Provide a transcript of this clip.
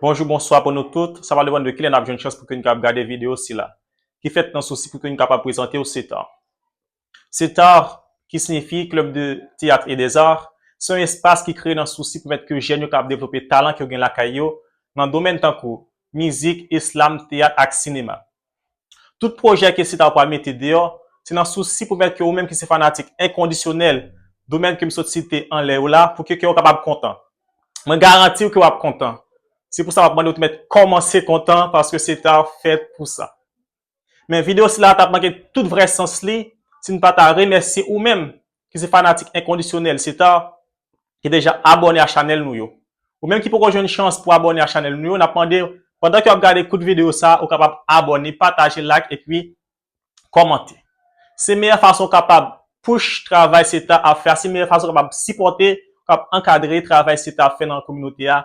Bonjou bonswa pou nou tout, sa va depann de kilè nap jwenn chans pou ke nou kapab gade video sila, ki fèt nan sousi pou ke nou kapab prezantew CETAR. CETAR, ki signifi Club de Théâtre et des Arts, se yon espas ki kreye nan sousi pou mèt ke jèn yo kapab devlope talan ke yo gen lakay yo nan domèn tankou, mizik, eslam, teyat ak sinema. Tout pwojè ke Sita ou pral mete deyò, se nan sousi pou mèt ke ou menm ki se fanatik enkondisyonèl domèn ke m sot site anlè yo la pou ke kè ou kapab kontan. Mwen garanti ou ke wap kontan. Se pou sa map mande ou te mèt kòmanse kontan paske Sita fèt pou sa. Men videyo sila a tap manke tout vrè sans li si n pa ta remèsye ou menm ki se fanatik enkondisyonèl Sitar ki deja abòne a chanèl nou yo. Ou menm ki poko jwenn chans pou abòne a chanèl nou yo, n ap mande pandan ke w ap gade kout videyo sa ou kapab abòne, pataje, like epi kòmante. Se meyè fason ou kapab push travay Sitar ap fè a, se meyè fason ou kapab sipòte, kap ankadre travay Sitar ap fè nan kominote a